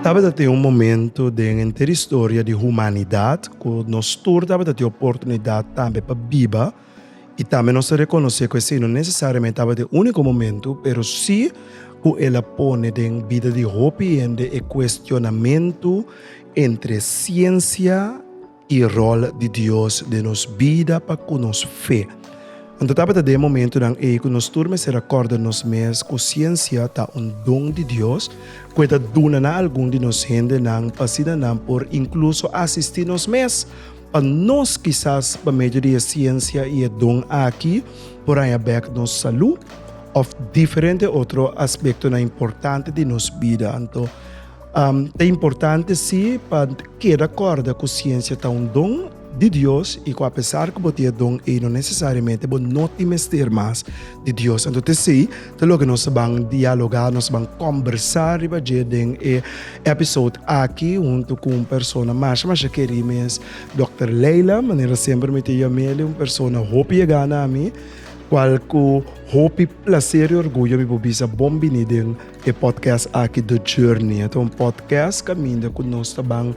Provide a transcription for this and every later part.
Tabata tin un momento den henter historia di humanidat ku nos tur tabata tin oportunidat tambe pa biba i tambe nos ta rekonosé ku esei no nesesariamente tabata e úniko momento, pero si ku el a pone den bida di hopi hende e kuestionamentu entre siensia, i rol di Dios den nos bida pa ku nos fe. Anto tabata den e momentunan ei ku nos tur mester a kòrda nos mes ku siensia ta un don di Dios ku e ta duna na algun di nos hendenan pa asina nan por inkluso asistí nos mes. Pa nos kisas pa medio di e siensia i e don aki por haña bèk nos salú òf diferente otro aspektonan importante di nos bida. Anto Um, ta importante si pa keda kòrda ku siensia ta un don di Dios i ku apesar ku bo tin e don ei no nesesariamente bo no tin mester mas di Dios. Anto te sei, ta loke nos ban dialogá, nos ban kòmbersá riba dje den e episode aki huntu ku un persona masha masha kerí mes, Dòkter Leila, manera semper mi ta yam'e un persona hopi e gana na mi, kual ku hopi plaser i orguyo mi por bisa bon biní den E podcast aki The Journey a ta un podcast caminda cu nos ta ban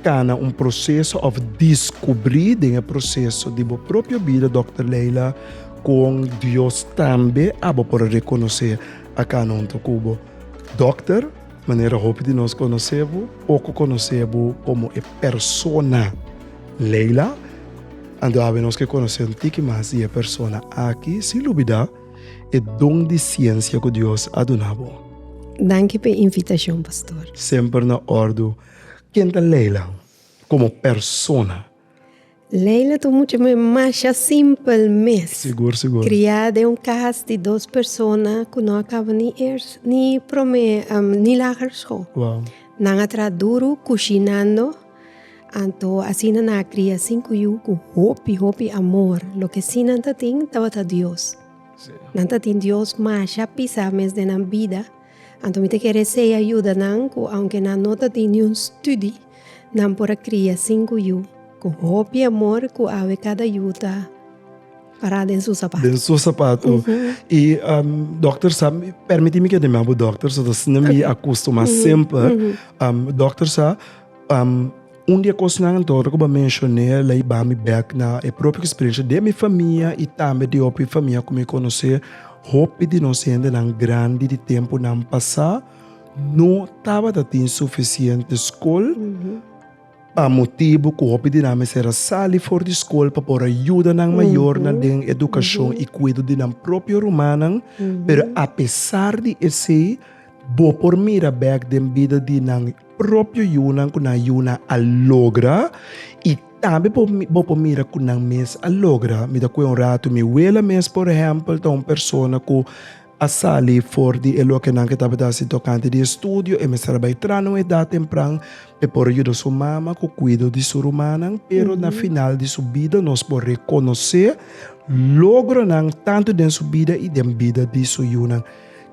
cana un proceso of discubri den e proceso di bo propio bida Doctor Leila con Dios tambe abo por reconoce a cana hunto cu bo Doctor manera hopi di nos conoce bo poco conoce bo como e persona Leila ando awe nos ke conoce un tiki mas di e persona aki sin lubida. e don di siensia ku Dios a duna bo. Danki p'e invitashon, pastor. Semper na ordu. Ken ta Leila komo persona? Leila ta un mucha me masha simpel mes. Sigur, sigur. Kriá den un kas di dos persona ku no a kaba ni ers ni promé ni lager skol. Wow. Nan a traha duru kushinando. Anto asina nan a kria sinku yu ku hopi, hopi amor. Loke si nan ta tin tabata Dios. Nan ta tin Dios masha pisa mes den nan bida. Anto mi ta kere sei a yuda nan ku aunke nan no ta tin niun studi, nan por a kria sinku yu ku hopi amor ku awe kada yu ta Pará den su sapatu. Den su sapatu. I dokter sa, pèrmití mi keda mi abu dokter so asina mi a kustumá semper. Dokter sa, un di e kosnan anto ora ku bo a menshoné el a iba mi bèk na e propio eksperensha den mi famia i tambe di hopi famia ku mi konosé. Hopi di nos hendenan grandi di tempunan pasá no tabata tin sufisiente skol. Pa motibu ku hopi di nan mester a sali for di skol pa por a yuda nan mayornan den edukashon i kuido di nan propio rumannan, pero apesar di esei bo por mira bèk den bida di nan propio yunan ku nan yunan a logra i tambe bo por mira ku nan mes a logra. Mi ta kue un ratu mi wela mes, por ehèmpel, ta un persona ku. a sali for di e lokenan ku e tabata hasi tokante di e studio. E mester a bai tras na un edat tempran pa e por yuda su mama ku kuido di su rumannan. Pero na final di su bida nos por rekonosé logronan tantu den su bida i den bida di su yunan.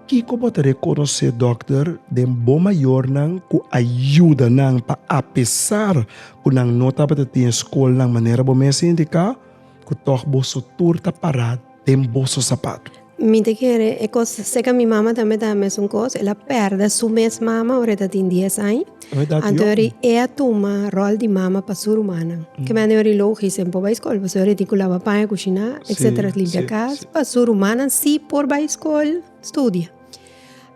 Kiko bo ta rekonosé dòkter den bo mayornan ku a yuda nan pa apesar ku nan no tabata tin skolnan manera bo mes a indiká, ku tòg boso tur ta pará? den boso sapatu. Mi ta kere e kos seka mi mama tambe ta mesun kos el a perde su mes mama ora e ta tin dies aña anto yori e a tuma rol di mama pa su rumannan ke mende yori lo hogi sem por bai skol pasobra yori tin ku lava paña kushiná etcetera limpia kas pa su rumannan si por bai skol studia.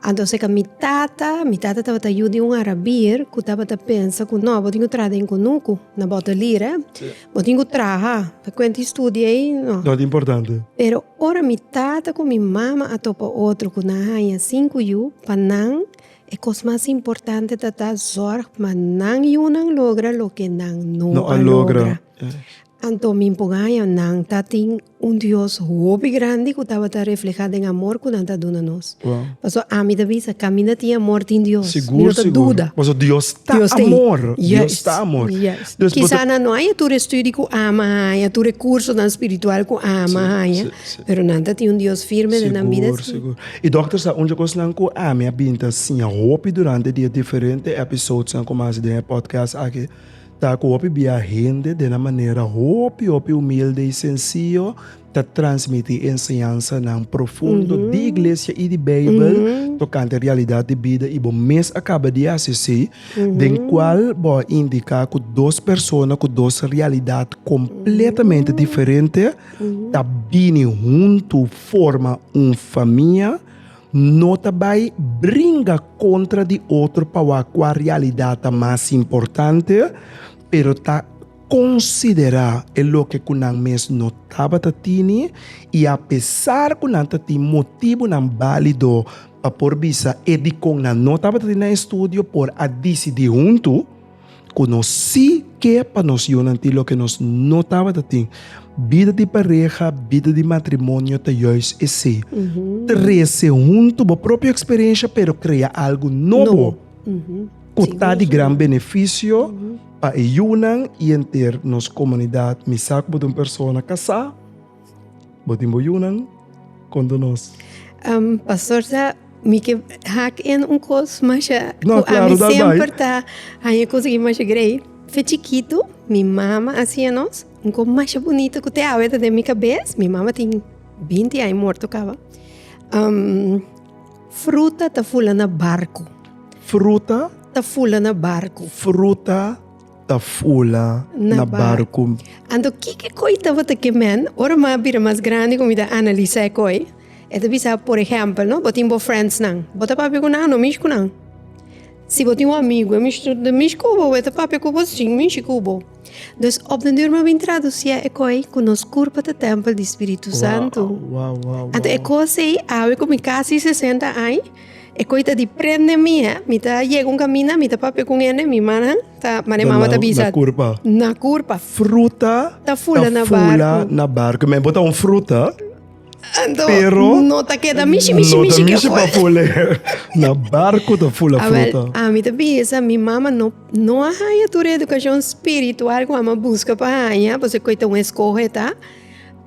Anto seka mi tata, mi tata tabata yu di un arabier ku tabata pensa ku no bo tin ku traha den kunuku na bòter lira bo tin ku traha pa kuenti studio ei no. No ta importante. Pero ora mi tata ku mi mama a topa otro ku nan haña sin ku yu pa nan e kos mas importante tata zòrg pa nan yunan logra loke nan no a logra anto mi por haña nan ta tin. Un Dios hopi grandi ku tabata reflehá den amor ku nan ta duna nos. Pasobra ami ta bisa, kaminda tin amor tin Dios. Mi no ta duda. Pasobra Dios ta amor. Dios ta amor. Kisá nan no haña tur e studio ku ama haña, tur e kursonan spiritual ku ama haña, pero nan ta tin un Dios firme den nan bida. Sigur, sigur. I dòkter sa un dje kosnan ku ami a bin ta siña hopi durante e dia, diferente èpisodsnan ku mi a hasi den e pòdkast aki, Ta cu hopi biaha hende den nan manera hopi hopi humilde y sencillo ta transmiti enseñansanan profundo di Iglesia y di Bijbel tocante realidad di bida. Y bo mes a caba di haci así, den cual bo a indica cu dos persona cu dos realidad completamente diferente ta bini hunto forma un famia. No ta bai bringa kontra di otro pa wak kua realidad ta mas importante, pero ta konsiderá e loke ku nan mes no tabata tini, i apesar ku nan ta tin motibunan bálido pa por bisa e dikon nan no tabata tin na estudio por a disidí huntu. ku nos sí ke pa nos yunan tin loke nos no tabata tin. Bida di pareha, bida di matrimonio ta juis esei. Trese huntu bo propio eksperensia pero krea algu nobo ku ta di gran benefisio pa e yunan i enter nos komunidat. Mi sa ku bo ta un persona kasá Bo tin bo yunan konto nos. Um, pastor sa, mi ke hak en un kos masha no, ku claro, ami semper ta haña konsegui masha grei. Fe chikitu, mi mama a hasié nos un kos masha bunito ku te awe ta den mi kabes. Mi mama tin binti aña morto kaba. Um, fruta ta fula na barku. Fruta? Ta fula na barku. Fruta? ta fula na barku. Anto kiko koi tabata ke men? Ora mi a bira mas grandi ku mi ta analisá e koi, e ta bisa, por ehèmpel, no, bo tin bo friendsnan, bo ta papia ku nan anto mishi ku nan. Si bo tin bo amigu, e mishi ta mishi ku bo, e ta papia ku bo, ta chin mishi ku bo. Dus, op den duur mi a bin tradusié e koi ku nos kurpa ta tèmpel di spiritu santu. Anto e kos ei, awe ku mi kasi sesenta ai. E koi ta di prende mi hè, mi ta yega un kaminda, mi ta papia ku un hende, mi mannan ta mane mama ta bisa. Na kurpa. Na kurpa. Fruta ta fula na barku. Ta fula na barku. Mi bo ta un fruta. Anto, no ta keda mishi, mishi, mishi ke afora. No ta mishi pa fula. Na barku ta fula fruta. Awel, ami ta bisa, mi mama no, no a haña tur e edukashon spiritual ku ami a buska pa haña, pasobra e koi ta un eskohe ta.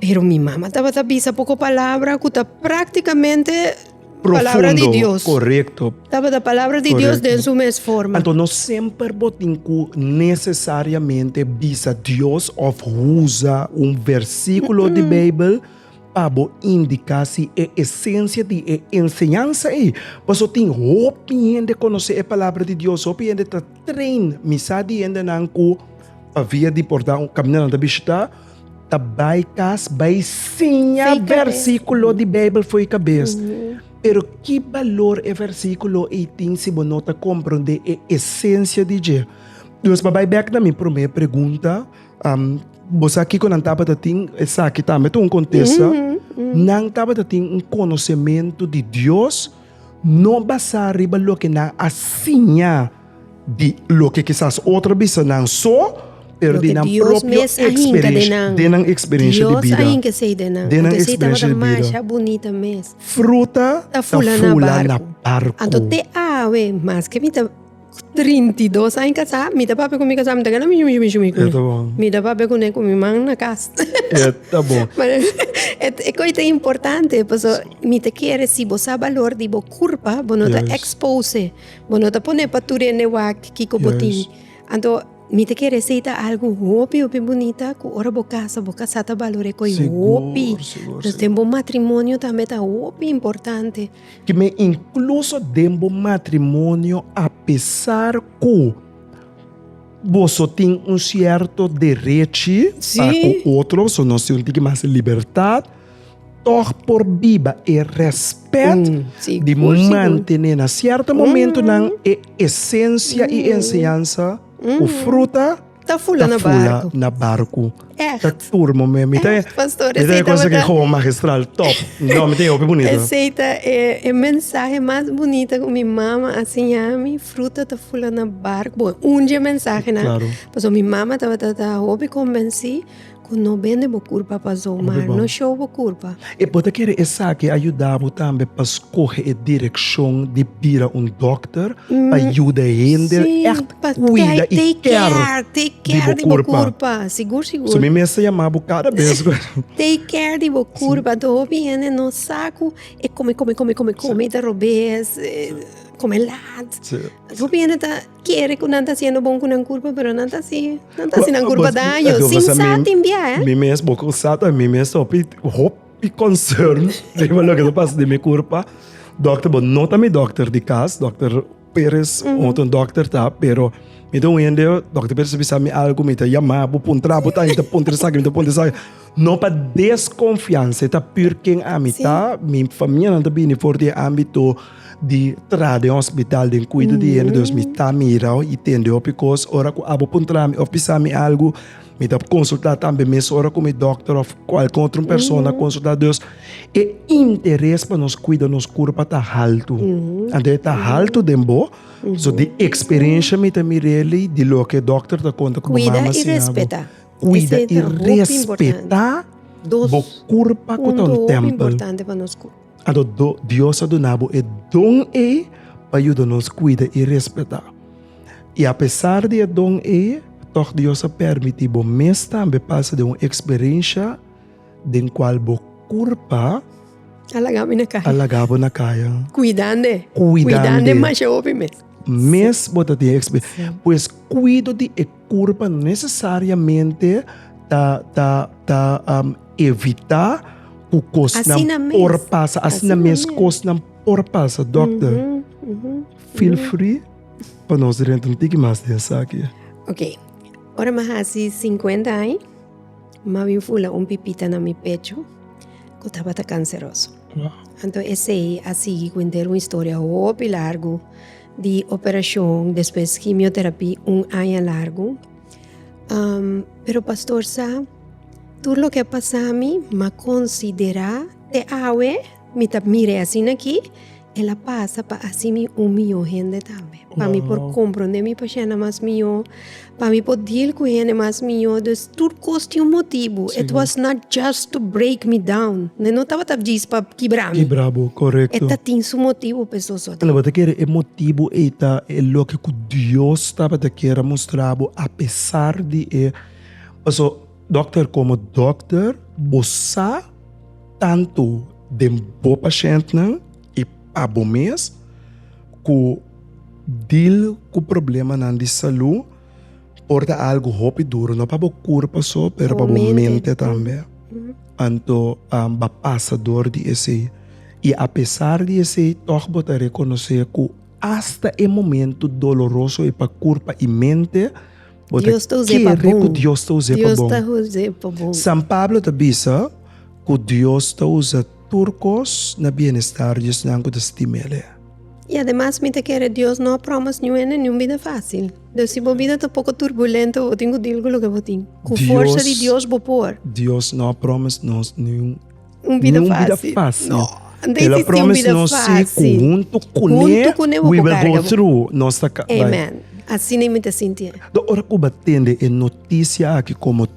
Pero mi mama tabata bisa poko palabra ku ta praktikamente. Palabra di Dios. Profundo, korekto. Tabata palabra di Dios den su mes forma. Anto no semper bo tin ku nesesariamente bisa Dios òf usa un versíkulo di Beibel pa bo indiká si e esensia di e enseñansa ei. Pasobra tin hopi hende konosé e Palabra di Dios, hopi hende ta train, mi sa di hendenan ku pa via di por ta un kaminda nan ta bishitá, ta bai cas bai siña versiculo di Bijbel fo'i cabes. Pero ki balor e versiculo ei tin si bo no ta comprende e esencia di dje? Dios pa bai bek na mi prome pregunta, um, bo sa kiko nan tabata tin, esaki tambe ta un contesta, nan tabata tin un conocemento di Dios, No basá riba loke nan a siña di loke kisas otro a bisa nan so, pero di nan propio eksperensia den nan eksperensia di bida. Den nan eksperensia di bida. Fruta ta fula na barku. Ku trinta i dos aña kasá mi ta papia ku mi kasá mi ta keda mi shumi shumi kuné. Mi ta papia kuné ku mi man na kas. E kos ta importante pasobra mi ta kere si bo sa balor di bo kurpa bo no ta expose bo no ta pone pa tur hende wak kiko bo tin anto mi ta kere esei ta algu hopi hopi bunita ku ora bo kasa bo kasá ta balor'é kos hopi pasobra den bo matrimonio tambe ta hopi importante. Ki me inkluso den bo matrimonio apesar ku boso tin un sierto derechi pa ku otro, so no si un tiki mas libertat, tòg por biba e rèspèt di mantené na sierto momentunan e esensia i enseñansa ku fruta. Ta fula na barku. Ta fula na barku. Echt. Ta turmo me. Mi ta e. Pastor, mi ta e cosa que gewoon magistral. Top. No, mi ta e hopi bonito. Ese ta e, e mensaje mas bonito que mi mama a siña mi. Fruta ta fula na barku. Bon, un dje mensaje na. Claro. Paso mi mama tabata ta hopi convenci. Cu no bende bo curpa pa zo, maar no show bo curpa. E bo ta kere esaki a yuda bo tambe pa scoge e direccion di bira un dokter pa yuda hende echt cuida y care di bo curpa? So mi mester yama bo cada bes cu. Take care di bo curpa, anto hopi hende no sa cu e come, come, come, come, come y ta robes, come laat. Hopi hende ta. kere ku nan ta siendo bon ku nan kurpa pero nan ta si nan ta si nan kurpa daño sin sa tin bia eh. Mi mes bo ku sa ta mi mes hopi hopi concern riba loke ta pasa den mi kurpa dòkter bo no ta mi dòkter di kas dòkter Perez otro dòkter ta pero mi ta un hende dòkter Perez a bisa mi algu mi ta yama bo puntra bo ta mi ta puntra esaki mi ta puntra esaki no pa deskonfiansa e ta pür ken ami ta mi famia nan ta bini for di e ámbito. di traha den hospital den cuido di hende dus mi ta mirao y tende hopi cos ora cu abo puntala mi of bisa mi algo mi ta consulta tambe mes ora cu mi doctor of cualkier otro un persona a consulta dus e interes pa nos cuida nos curpa ta halto anto e ta halto den bo so di experiencia mi ta mireli di loke doctor ta conta cu bo mama sin abo cuida y respeta bo curpa cu ta un tempel. A do, do, Dios a duna bo e don ei pa yuda nos kuida i respetá. I apesar di e don ei, tòg Dios a permití bo mes tambe pasa den un eksperensha den kual bo kurpa A laga mi na kaya. a laga bo na kaya. Kuidande. Kuidande. Kuidande masha hopi mes. Mes bo ta tin e eksperensia. Pues kuido di e. Curpa no necesariamente ta ta ta um, evita cu cosnan por pasa, asina mes cosnan por pasa, dokter. Mm -hmm. Mm -hmm. Feel mm-hmm. free pa nos renta un tiki mas den saki. Ok, ora ma hasi 50 ai, ma bin fula un pipita na mi pecho, cu tabata canceroso. Wow. Anto esei a sigi cu entero un historia hopi largo, di operashon despues kimioterapí un aña largu. Pero pastor sa, tur loke a pasá mi m'a konsiderá te awe mi ta mira e asina aki, el a pasa pa hasi mi un mihó hende tambe. Pa mi por komprondé mi pashénda mas mihó, Pa mi por deal cu hende mas mijo dus tur cos tin un motibu. Sí. It was not just to break me down. E no tabata djis pa kibra mi. Kibra bo, correcto. E ta tin su motibu pa esos otro. Lo bo ta kere e motibu ei ta e loke cu Dios tabata kier a mustra bo apesar di e. Paso dokter como dokter bo sa tanto den bo pashentnan. I pa bo mes ku dil ku problemanan di salú por ta algu hopi duru, no pa bo kurpa so, pero pa bo mente tambe. Anto um bo a pasa dor di esei. I apesar di esei tòg bo ta rekonosé ku asta e momentu doloroso e pa kurpa i mente bo ta kere ku Dios ta us'é pa bon. San Pablo ta bisa ku Dios ta usa. Tur kos na bienestar di esnan ku ta sintí mele. I ademas mi ta kere Dios no a proba mas niue nen niun bida fásil. Dus si bo bida ta poko turbulento, bo tin ku dil ku loke bo tin. Ku forsa di Dios bo por. Dios no a proba mas nos niun bida fásil. No, anto i sisti un bida fásil. Huntu kuné bo por karga bo. Nos ta karga bo. Amen. Asina i mi ta sinti. Ora ku bo a tende e notisia aki komo.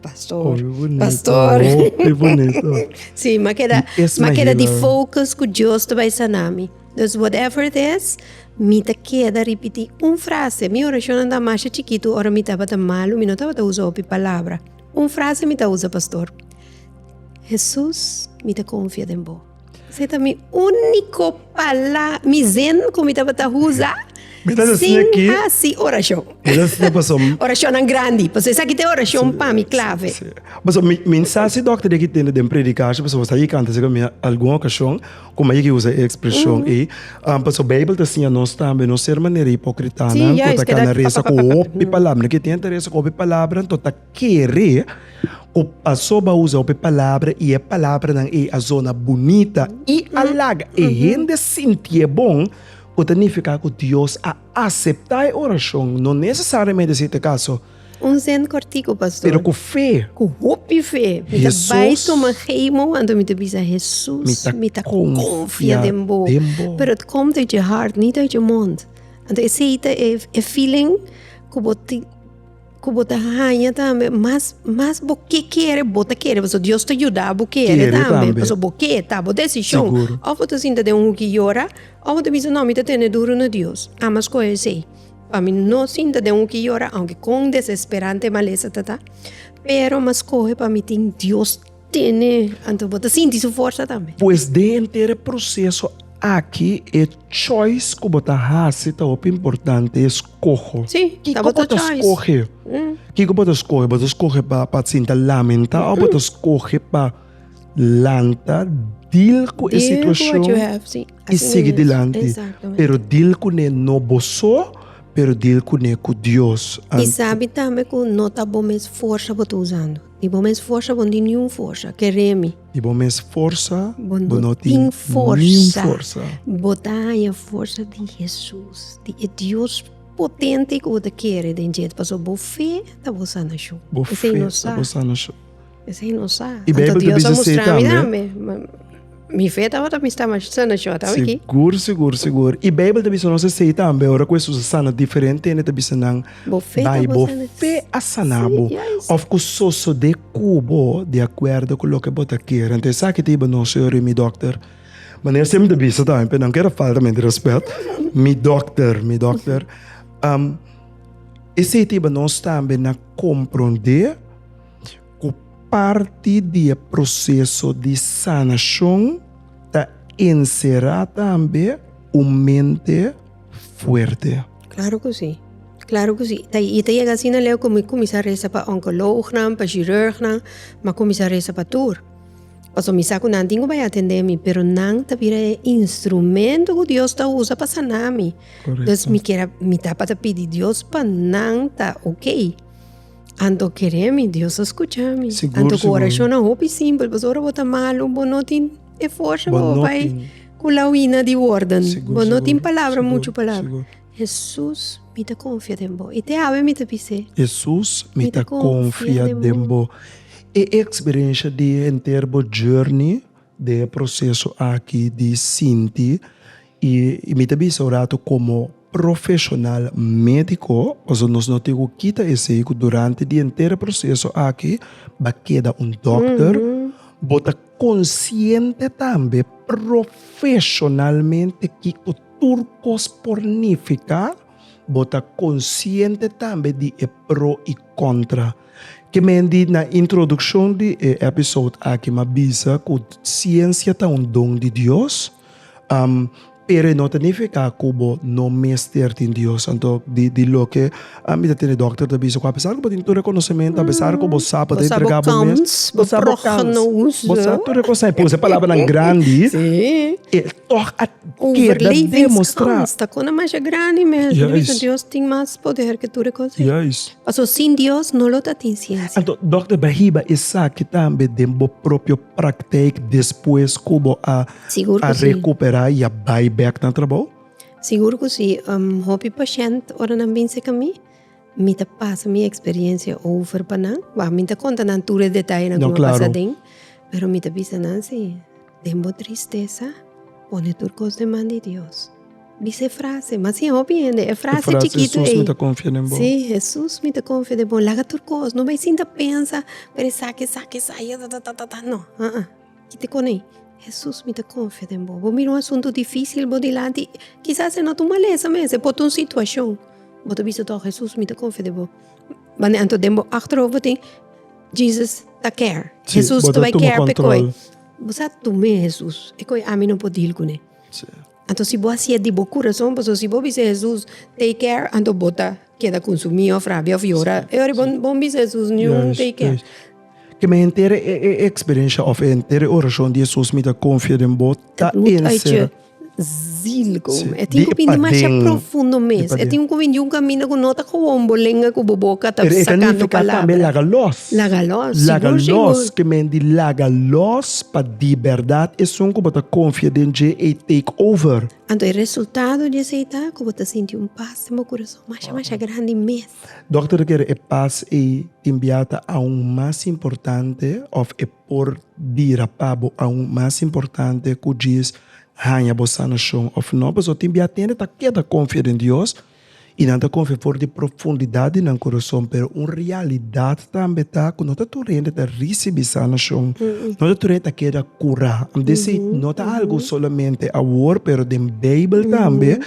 Pastor. Oh, bonito. Pastor. Oh, qué bonito. sí, ma queda, es ma queda di focus cu Dios te vai sanami. Dus whatever it is, mi te queda repeti un frase. Mi oracion anda mas chiquito ora mi tabata malo, mi no tabata usa hopi palabra. Un frase mi ta usa, pastor. Jesus, mi ta confia den bo. Se ta mi único pala, mi zen cu mi tabata usa Mi ta sin decía que- haci oracion. Mi ta decía paso- Oracionnan grandi, paso esaki ta e oracion pa mi clave. Sí. Paso mi, mi no sa si dokter deki tende den predica shi, paso bo sa yeki anta segun mi algun ocasion cu mi a yeki usa e expresion ei. Am, paso Bijbel ta siña nos tambe no ser manera hipócritanan Sí, cu juist, ta cana keda resa cu pa, pa, pa, pa. hopi palabra. No ke tin ta resa cu hopi palabra anto ta Kere ku pasobra a usa hopi palabra i e palabranan ei a zona bunita i a laga e hende sinti e bon, ku ta nifiká ku Dios a aseptá e orashon, no nesesariamente si ta kaso, Un zin kòrtiku, pastor. pero ku fe. Ku hopi fe, mi ta bai Hesus. tuma gei momento mi ta bisa, Hesus, Mi ta mi ta konfia konfia den bo. den bo. Pero it kom dari dje hart, ni dari dje mond. Anto esei ta e e feeling ku bo tin Ku bo ta haña tambe mas mas bo ke kere bo ta kere pasobra Dios ta yuda bo kere tambe pasobra bo ke ta bo desishon of bo ta sinta den un huki yora of bo ta bisa no mi ta tene duru na Dios a mas kohe esei pa mi no sinta den un huki yora aunke kon desesperante malesa ta ta pero mas kohe pa mi tin Dios tene, anto bo ta sinti su forsa tambe. Pues den henter e proseso aki e choice ku bo ta hasi ta hopi importante, e skoho. Si, ta bo ta choice. Kiko bo ta skohe? Kiko bo ta skohe? Bo ta skohe pa pa sinta lamenta òf bo ta skohe pa lanta, dil ku e situashon i sigui dilanti? Pero dil kuné no bo so, pero dil kuné ku Dios. I sabi tambe ku no ta bo mes forsa bo ta usando. I bo mes forsa bo no tin niun forsa. Ke remi. I bo mes forsa bo no tin niun forsa. Bo no tin forsa. Bo ta haña forsa di Hesus, di e Dios potente ku bo ta kere den dje. Pasobra bo fe ta bo sanashon. Bo fe ta bo sanashon. Esei no sa. Esei no sa. Anto Dios a mustra mi tambe. Mi fe tabata mester masha na short a wiki. Sigur, sigur, sigur. I Bijbel ta bisa nos esei tambe, ora ku Hesus a sana diferente hende, e ta bisa nan, Bo fe ta Bai, bo bo sana. fe a sana Si, bo. juist. Òf ku sosodé ku bo di akuerdo ku loke bo ta kere. Anto esaki ta hiba nos oro i mi dòkter, manera siempre mi ta bisa tambe, pero nan keda faltamente rèspèt, mi dòkter, mi dòkter, am, esei ta hiba nos tambe na komprondé. Ku parti di e proseso di sanashon ta enserá tambe un mente fuerte. Klaro ku si. Klaro ku si. Ta i ta yega asina, Leo, ku mi kuminsá resa pa onkolognan, pa shirurgnan, mi a kuminsá resa pa tur. Pasobra mi sa ku nan tin ku bai atendé mi, pero nan ta bira e instrumento ku Dios ta usa pa saná mi. Kòrekto. Entonces mi kier a mi ta pa ta pidi Dios pa nan ta oke. Anto kere mi, Dios a skucha mi. Sigur, Anto ku sigur. orashonnan hopi simpel, pasobra ora bo ta malu, bo no tin e forsa Bo bo no bai tin. ku lawina di wòrden. Sigur, Bo no sigur, tin palabra, sigur, muchu palabra. sigur. Jesus, mi ta konfia den bo. I te awe mi ta bis'é. Jesus, mi ta konfia den bo. E eksperensha di henter bo journey den e proseso aki di sinti y mi ta bisa un ratu como profesional medico pasobra nos no tin cu kita esey cu durante di enter e proseso aki ba keda un doctor, bo ta consciente tambe profesionalmente kico tur cos por nifica, bo ta consciente tambe di e pro y contra. Ke men di na introdukshon di e èpisòd aki m'a bisa ku siensia ta un don di Dios, pero e no ta nifiká ku bo no mester tin Dios. Anto di loke mi ta tende dòkter ta bisa ku apesar ku bo tin tur e konosementu, apesar ku bo sa pa ta entregá bo mes, bo sa bo kans, bo sa tur e kos, pone palabranan grandi, e tòg a keda demostrá. Juis. Paso sin Dios no lo ta tin ciencia. Anto, Dokter Bahiba esaki tambe den bo propio praktijk despues ku bo a a rekupera i a bai bèk na trabou? Sigur ku si. Hopi pashènt ora nan bin serka mi, mi ta pasa mi eksperiensia over pa nan. Ba mi no ta konta nan tur e detayenan ku mi a pasa aden, pero mi ta bisa nan si den bo tristesa pone tur kos den man di Dios. Bisa e frase, mas sin hopi hende. E frase chikitu ei. E frase, Jesus mi ta konfia den bo. Si, Jesus mi ta konfia den bo. Laga tur kos. No bai sinta pensa pa esaki, esaki, esaki, ta-ta-ta-ta-ta. No. A'a. Kiti kon ei. Jesus mi ta konfia den bo. Bo mira un asuntu difísil bo dilanti. Kisas e no ta un malesa mes. E por ta un situashon. Bo ta bisa tok, Jesus mi ta konfia den bo. Wan anto den bo achterhof bo tin, Jesus ta care. Si, bo ta tuma kontrol. Jesus ta bai care pa koe. Bo sa, tum'e Jesus. E koe ami no por deal kuné. Si. Anto si bo a si'e di bo kurason, pasobra si bo bisa Hesus, take care, anto bo ta keda konsumí of rabia of yora. E ora bo no bisa Hesus niun take care. Ke mi henter e eksperensia of e henter e orashon di Hesus mi ta konfia den bo ta enserá. Zil ku mi. E tin ku bin dimasha profundo mes. E tin ku bin di un kaminda ku no ta kowon bo lenga ku bo boka ta sakando palabra. Pero e ta nifiká tambe laga lòs. Laga lòs. Laga lòs, ke men di laga lòs Pa di bèrdat esun ku bo ta konfia den dje ei take over. Anto e resultado di esei ta ku bo ta sinti un pas den bo kurason masha masha grandi mes. Dòkter ta kere e pas ei tin bia ta aun mas importante òf e por bira pa bo aun mas importante ku djis haña bo sanashon òf nò. Pasobra tin bia tende ta keda konfia den Dios. I nan ta konfia for di profundidat di nan kurason, pero un realidat tambe ta ku no ta tur hende ta risibi sanashon, no ta tur hende ta keda kurá. Ami ta si no ta algu solamente awor, pero den Beibel tambe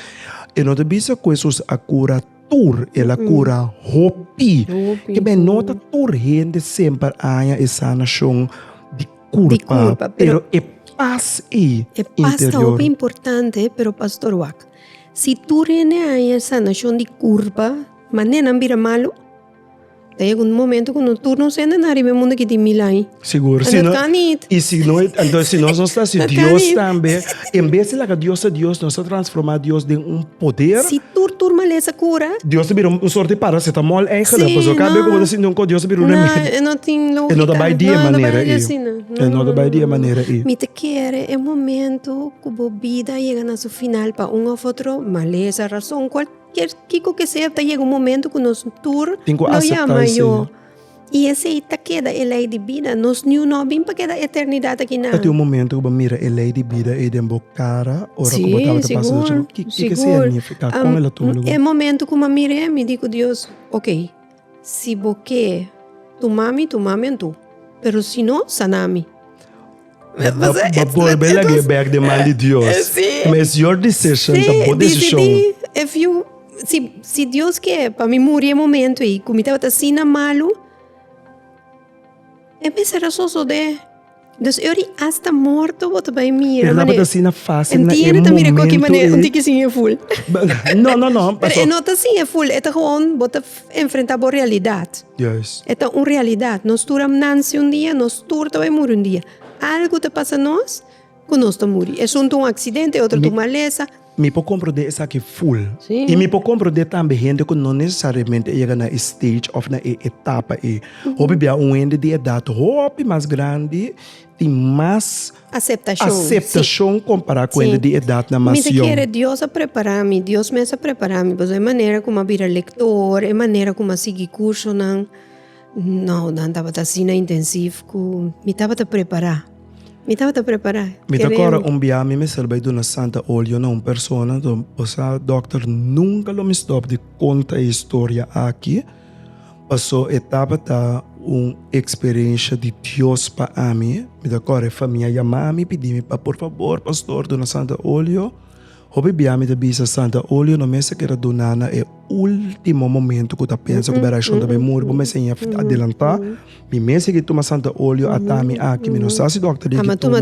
e no ta bisa ku Hesus a kura tur, el a kura hopi. Kibien, no ta tur hende semper a haña e sanashon di kurpa, pero e pas ei interior. E pas ta hopi importante, pero pastor wak, Si tur hende haña e sanashon di kurpa, mané nan bira malu? Ta yega un momento ku no tur nos hende na riba e mundu aki tin mil aña. Sigur, si no. Anto kan it. I si no it, anto si nos no sta si Dios tambe, en bes di laga Dios ta Dios, nos ta transformá Dios den un poder. Si tur tur malesa kura. Dios ta bira un sort di parasetamol eigelijk, pasobra no kabe ku bo ta sinti un kos Dios ta bira un remedio. No, e no tin logika. E no ta bai di e manera ei. No, e no ta bai asina. No, no, no. E no ta bai di e manera ei. Mi ta kere e momento ku bo bida a yega na su. Final pa un òf otro malesa, rason, kualkier kiko ke sea ta yega un momentu ku nos tur lo yama yo. I esei ta keda e lei di bida. Nos niño no a bin pa keda eternidat aki nan. Ta tin un momentu ku bo mira e lei di bida ei den bo kara ora ku bo tabata pasa dor? Sigur, sigur. Kiko ke sea niña afektá? Kon el a tuma lugar? E momentu ku m'a mira e mi di ku Dios, Oke. Si bo ke tuma mi, tuma mi antu, pero si no, sana mi. Bo por be lag'e bèk den man di Dios, kima es your decision, ta bo desishon. Si Dios ke pa mi muri e momentu ei ku mi tabata asina malu, e mes e rason so de Dus eur di asta morto bo ta bai mira mane. Tabata asina fácil na e momento ei. Entiende ta mira koki manera un tiki sin e ful. No, no, no. Pero e no ta sin e ful, e ta gewoon bo ta enfrentá bo realidad. Juist. E ta un realidad. Nos tur a nanse un dia, nos tur ta bai muri un dia. Algu ta pasa nos ku nos ta muri. Esun ta un aksidente, e otro ta un malesa. Mi por komprendé esaki ful. Sí. I mi por komprendé tambe hende ku no nesesariamente a yega na e stage òf na e etapa ei. Hopi bia un hende di edat hopi mas grandi tin mas. Aseptashon. Sí. Aseptashon kompará ku hende di edatnan mas yòn. Mi ta kere Dios a prepará mi, Dios mes a prepará mi, pasobra e manera ku mi a bira lektor, e manera ku mi a sigui kursonan. No, nan tabata asina intensivo cu mi tabata prepara. Mi tabata prepara. Mi ta acorda un biaha mi mester bay duna santa olio na un persona, to bosa dokter nunca lo mi stop di conta e historia aki, paso e tabata un experiencia di Dios pa ami. Mi ta acorda e famia yama mi pidi mi pa por favor pastor duna santa olio. Hopi bia mi ta bisa Santa Olio no mester keda duna na e ultimo momento ku ta pensa ku berashon ta bai muri, bo mester ña adelantá. Mi mes sigui tuma Santa Olio ata mi aki, mi no sa si dòkter di eki tuma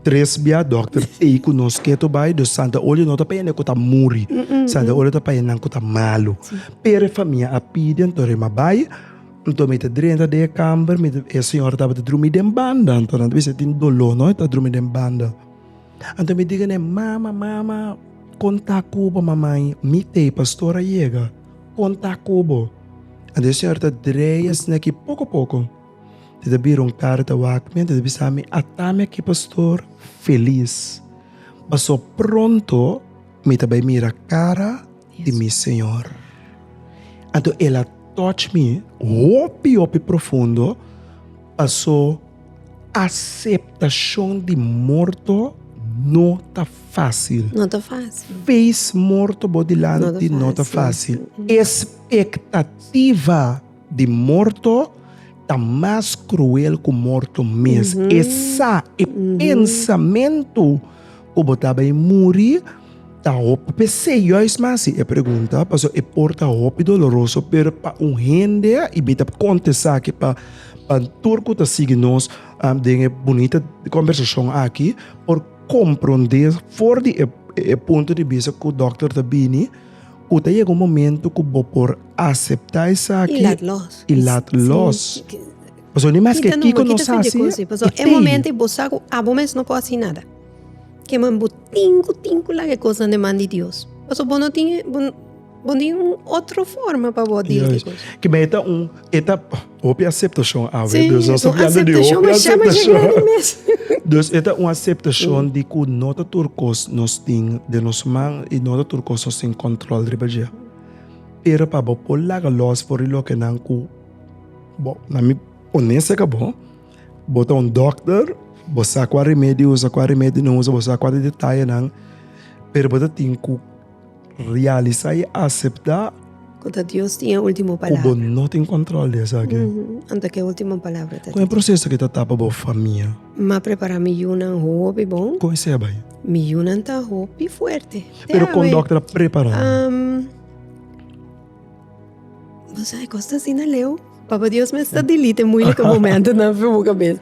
tres bia, dòkter ei ku nos ke to bai, dus Santa Olio no ta pa e nan ku ta muri, Santa Olio ta pa e nan ku ta malu. Pero e famia a pidi anto ri m'a bai, anto mi ta drenta den e kamber, e señora tabata drumi den banda anto nan ta bisa tin doló no e ta drumi den banda. Anto mi diga ne, Mama, mama, kon ta ku bo? Mamai, mi t'ei pastor a yega, kon ta ku bo? Anto e señor ta dreia esne aki poko poko, e ta bira un karta wak mi, anto e ta bisa mi, Ata mi aki pastor felis, paso pronto mi ta bai mira kara. di mi Señor. Anto el a touch mi hopi hopi profundo, paso aceptacion di morto no ta facil. No ta facil. Face morto bo dilanti no ta facil. Expectativa. Di morto ta mas kruel ku morto mes. E sa, e pensamentu ku bo ta bai muri ta hopi pesei. Yòis mi a hasi e pregunta pasobra e por ta hopi doloroso, pero pa un hende, i mita por kontestá akí pa tur ku ta sigui nos den e bunita kòmbersashon akí, por komprondé for di e punto di bista ku dòkter ta bini. Ku ta yega un momentu ku bo por aseptá esaki i lat lòs. I lat lòs. Pasobra no importa maske kiko nos hasi, i tei. E momentu ei bo sa ku abo mes no por hasi nada. Ke man bo tin ku tin ku laga e kosnan den man di Dios. Pasobra bo no tin, bo no tin otro forma pa bo dil ku e kosnan. Kiba e ta un, e ta. Hopi aseptashon awe. Sí, dus nos es un ta biando di aseptashon hopi mashá, mashá aseptashon. grandi mes. Dus e ta un aseptashon di ku no ta tur kos nos tin den nos man i no ta tur kos nos tin kòntròl riba dje. Pero pa bo por laga lòs for di lokenan ku bo, na mi onesto ka bo, bo ta un dòkter, bo sa kua remedio usa, kua remedio no usa, bo sa kua ta detayenan, pero bo ta tin ku Realisá i aseptá. Ku ta Dios tin e último palabra. Ku bo no tin kòntròl di esaki. Anto ke último palabra ta di Dios. Kon e proseso aki ta tapa bo famia? M'a prepará mi yunan hopi bon. Kon esei a bai? Mi yunan ta hopi fuerte. Pero kon dòkter a prepará nan? Bo sabi kos ta asina, Leo? Papa Dios mester dilite muilike momentonan fu bo kabes.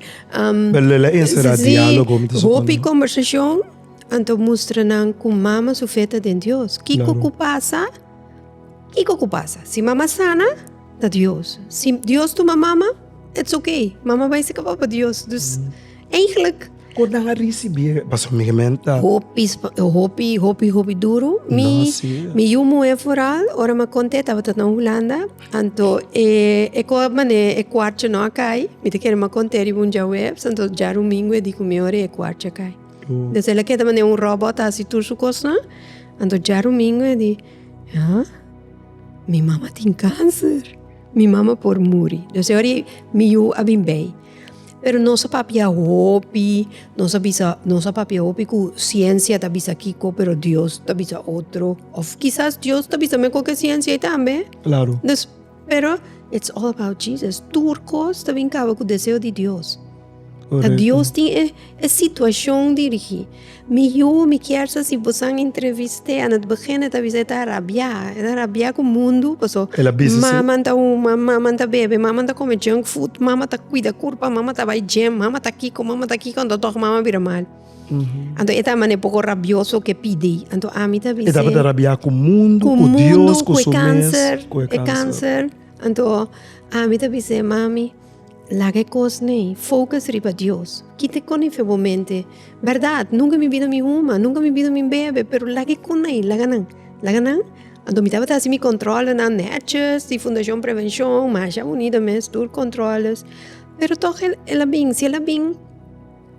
Bo lei la enserá diálogo. Si, hopi kòmbersashon. Anto mustra nan ku mama su fe ta den Dios. Kiko ku pasa? Kiko ku pasa? Si mama sana, ta Dios. Si Dios tuma mama, it's okay. Mama bai si kaba pa Dios. Dus, eigentlik. Kon nan a risibí e pasomientu? Hopi, hopi, hopi, hopi duru. Mi, mi yu muhé foral, ora mi a kont'é, e tabata na Hulanda. Anto e, e kò manera e kuarcha no a kai, mi ta kere mi a kont'é riba un djaweps, anto djarumingu e di ku mi ora e kuarcha a kai. Despues el a keda manera un robot a hasi tur su cosnan, anto djarumingo e di, ha, mi mama tin cancer, mi mama por muri, dus e ora mi yu a bin bay, pero nos a papia hopi, nos a bisa, nos a papia hopi cu ciencia ta bisa kico pero dios ta bisa otro, of kisas dios ta bisa mei cu e ciencia tambe, dus. Pero it's all about Jesus. Tur kos ta bin kaba ku deseo di Dios. Correcto. A Dios tin e, e situacion dirigi. Mi yu, mi kier sa si vos an entreviste, an het begin het a bisa e ta rabia. E ta rabia ku mundu, paso El a bisa si- mama ta uma, mama ta bebe, mama ta kome junk food, mama ta kuida kurpa, mama ta bai gym, mama ta kiko, mama ta kiko, anto tog mama bira mal. Anto e ta mane poko rabioso ke pidi. Anto ami ta bisa. E tabata rabia ku mundu, ku Dios, ku su mes, ku e kanser. Anto ami ta bisa, Mami, laga e kos nei, focus riba Dios. Kita e konai fe bo mente. Berdad, nunka mi bida mi huma, nunka mi bida mi bebe, pero laga e konai, laga nan, laga nan. Anto mi tabata hasi mi kontrolenan nètjes, di Fundashon Prevenshon, masha bunito mes, tur kontroles. Pero tòg el a bin, si el a bin.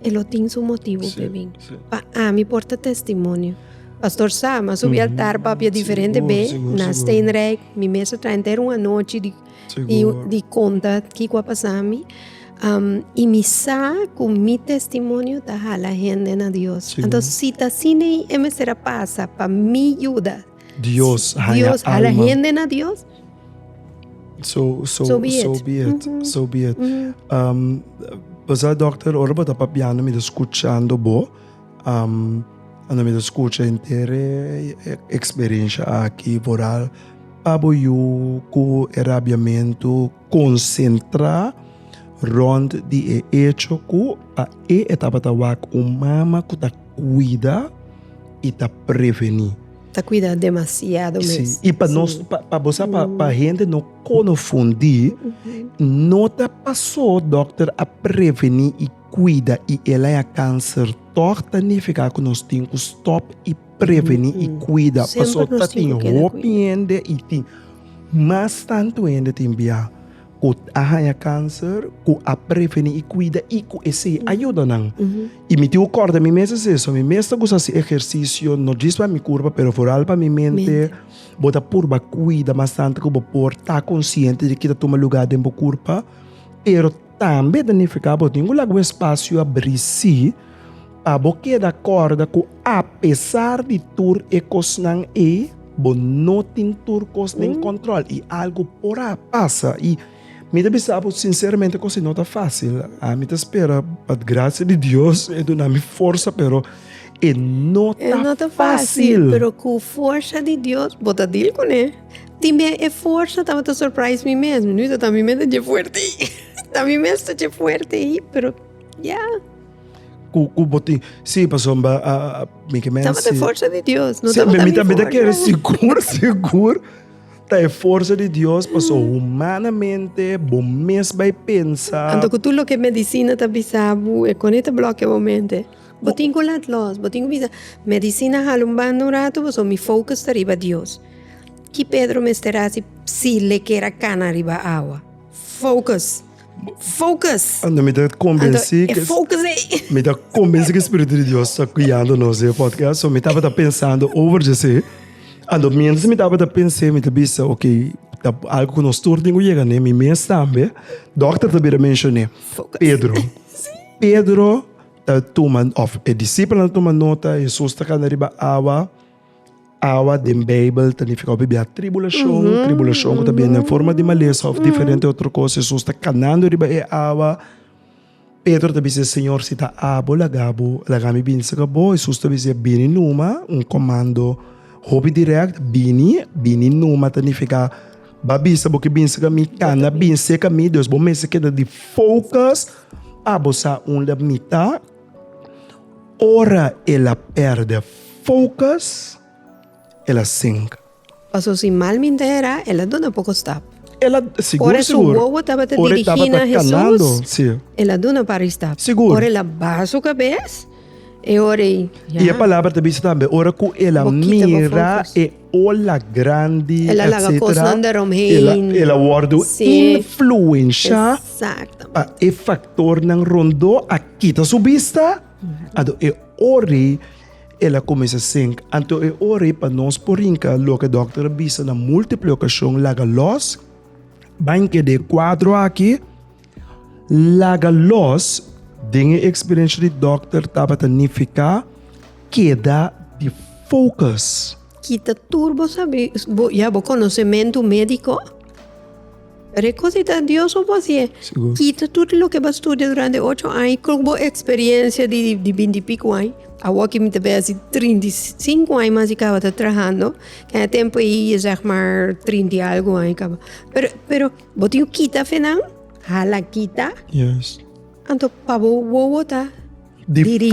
E lo tin su motibu p'e bin. Pa ami por ta testimonio. Pastor sa, mi a subi altar papia diferente be na Steenrijk, mi mes a traha henter un anochi di di konta kiko a pasa mi, i mi sa ku mi testimonio ta hala hende na Dios. Anto si ta asina e mester a pasa pa mi yuda. Dios haya Dios hala alma. hende na Dios. So, so, so be it. So be it. Mm -hmm. So be it. Mm -hmm. um, Pasa, dokter, ora bota papiando, mi escuchando bo. Um, ando mi escucha entera experiencia aquí, vooral pabo you, cu erabiamento, konsentrá rònt di e echo ku pa e e tabata wak un mama ku ta kuida i ta prevení. Ta kuida demasiado mes. Sí, i pa nos, pa bo sa, pa hende no kono fundí, no ta pasó dòkter a prevení i kuida i el a ya kanser tòg ta nifiká ku nos tin ku stòp i. preveni i kuida paso ta tin hopi hende i tin mas tantu hende tin bia ku a haña kanser ku a preveni i kuida i ku esei a yuda nan. I mi tin ku kòrda mi mes es eso, mi mes ta kusa hasi ehersisio no djis pa mi kurpa pero foral pa mi mente, bo ta purba kuida mas tantu ku bo por ta konsiente di ke ta tuma lugá den bo kurpa pero Tambe ta nifiká bo tin ku laga bo espasio a brisí pa bo keda kòrda ku apesar di tur e kosnan ei, bo no tin tur kos den kòntròl i algu por a pasa. I mi ta bisa bo sinseramente ku esei no ta fásil. Ami ta spera pa grasia di Dios e duna mi forsa, pero e no ta fásil. Pero ku forsa di Dios bo ta dil kuné. Tin bia e forsa tabata surprise mi mes mi no ta mi mes ta dje fuerte ayi ta mi mes ta dje fuerte ayi pero ya ku ku bo tin si pasobra bo a a mi ke mens tabata e forsa di Dios no tabata mi forsa mi ta kere sigur sigur ta e forsa di Dios paso humanamente bo mes bai pensa anto ku tur loke medicina ta bisa bo e kone ta blokia bo mente bo tin ku lat los bo tin ku bisa medicina hala un banda un ratu paso mi focus ta riba Dios. Ki Pedro mester hasi si le kier a kana riba awa? Focus! Focus! Anto mi ta kombensí ke. Anto e focus ei. Mi ta kombensí ke spiritu di Dios ta guiando nos den e podcast, so mi tabata pensando over djesé. Anto miéntras mi tabata pens'é mi ta bisa, ok, ta algu ku nos tur tin ku yega ne, mi mes tambe. Dòkter ta bira menshoné Pedro. Pedro ta tuma òf e disipelnan ta tuma nota, Hesus ta kana riba awa. Awa den Bijbel ta nifiká bibia tribulashon. Tribulashon ku ta bini den forma di malesa òf diferente otro kos. Hesus ta kanando riba e awa. Pedro ta bis'é, Señor, si ta abo, laga bo, laga mi bini serka bo. Hesus ta bis'é, Bini numa, un komando hopi dirèkt. Bini, bini numa ta nifiká, Ba bisa bo ku bin serka mi, kan na bin serka mi. Despues bo mester keda di focus. Abo sa unda mi ta. Ora el a pèrdè focus, el a sinka. Paso si mal mintera, el a duna poko stap. El a, sigur, Ora su sigur. wowo tabata Ora e dirigí tabata na Jesus, kanando, sí. el a duna par i stap. Sigur. Ora el a baha su kabes, e ora ei, ya. I e palabra ta bisa tambe, ora ku el a Bo kita bo mira focus. e Ola grandi, etcetera. El a laga cosnan daaromheen. El a wordo influensha pa e factornan rondó a kita su bista. Anto e ora el a cuminsa sing. Anto e ora pa nos por rinca loke doctor a bisa na multiple ocasion laga los, baña keda e cuadro aki. Laga los den e experiencia di dokter tabata nifica keda di focus. Kita tur bo sabi ya bo conocemento medico. Pero e cosa di ta Dios bo por haci'e. Kita tur di loke bo a studia durante ocho aña y con bo experiencia di binti pico aña, awor que mi ta besi trinta y cinco aña mas di caba ta trahando, kende tempo ey zeg maar trinta y algo aña caba. Pero, pero. Bo tin ku kita fe nan? Hala kita. Yes. Anto pa bo wowo ta dirigí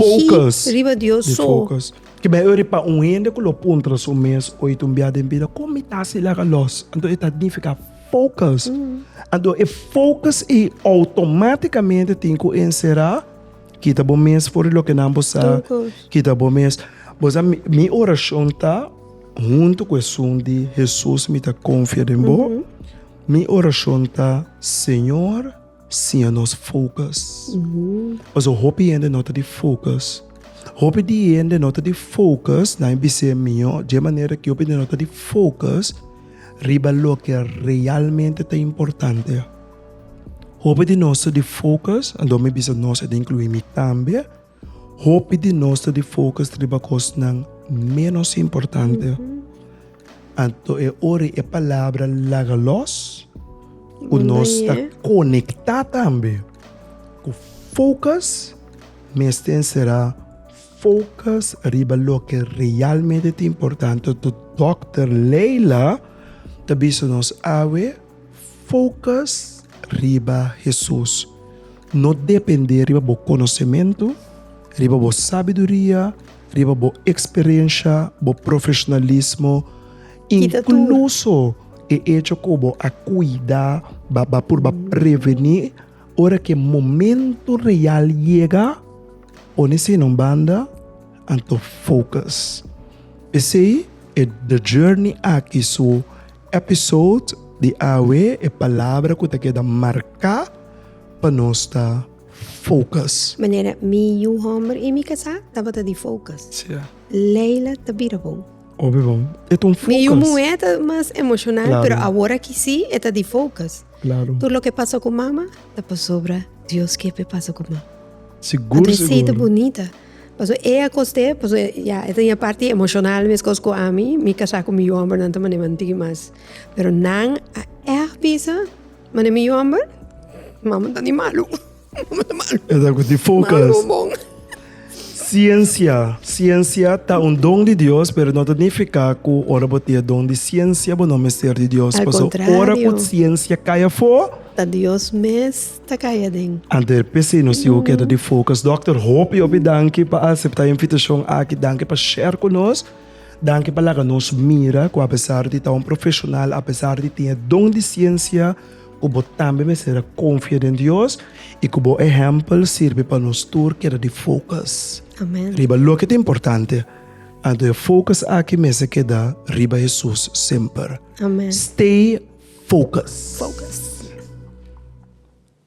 riba Dios so. Di focus. Ke bai ora pa un hende ku lo puntra su mes oit un bia den bida, kon mi ta hasi laga lòs? Anto e ta nifiká focus. Anto e focus ei outomátikamente tin ku enserá. Kita bo mes for di loke nan bo sa. Kita bo mes. Bo sa mi orashon ta. Huntu ku esun di Hesus mi ta konfia den bo. Mi orashon ta, Señor, siña nos fokus. Pasobra hopi hende no ta di fokus. Hopi di hende no ta di fokus, nan a bis'é mihó dje manera ku hopi hende no ta di fokus riba loke realmente ta importante. Hopi di nos ta di fokus, anto mi bisa nos e ta inkluí mi tambe. Hopi di nos ta di focus riba cosnan menos importante, anto e ora e palabra laga los cu nos ta conecta tambe cu focus mester encera focus riba loke realmente ta importante. Doctor Leila ta bisa nos awe. Focus riba Hesus, no depende riba bo conocementu, riba bo sabiduria, riba bo experiencia, bo profesionalismo, incluso e echo cu bo a cuida ba purba preveni ora cu e momento real yega, pone esey na un banda anto focus. Pesey e The Journey aki su. Episode di awe e palabra ku ta keda marká pa nos ta focus. Manera mi yu homber i mi kasá tabata di focus. Leila ta bira bon. Obe bon. E ta un focus. Mi yu muhé ta mas emocional pero awor aki si e ta di focus. Tur loke pasa ku mama ta pasobra Dios ke pe pasa ku mama. Sigur sigur. Adresi ta bunita. Paso e a coste paso ya e ta ña parti emocional mescos cu ami mi casa cu mi yu homber nan ta mane manti mas pero nan a eahj bisa mane mi yu homber mama ta di malu mama ta malu Esa cu di focus malu bon ciencia ciencia ta un don di Dios pero no ta nifica cu ora bo tin e don di ciencia bo no mester di Dios al paso ora cu contrario ciencia cay afo ta Dios mes. ta kaya den. Ander p'esei nos tiempo keda di focus. Dokter hopi hopi danki pa asepta e invitashon aki, danki pa share ku nos, danki pa laga nos mira ku apesar di ta un profeshonal, apesar di tin e don di siensia ku bo tambe mester a konfia den Dios i ku bo ehèmpel sirbi pa nos tur keda di focus riba loke ta importante. Anto e focus aki mester keda riba Hesus semper. Amen. Stay focus. Focus.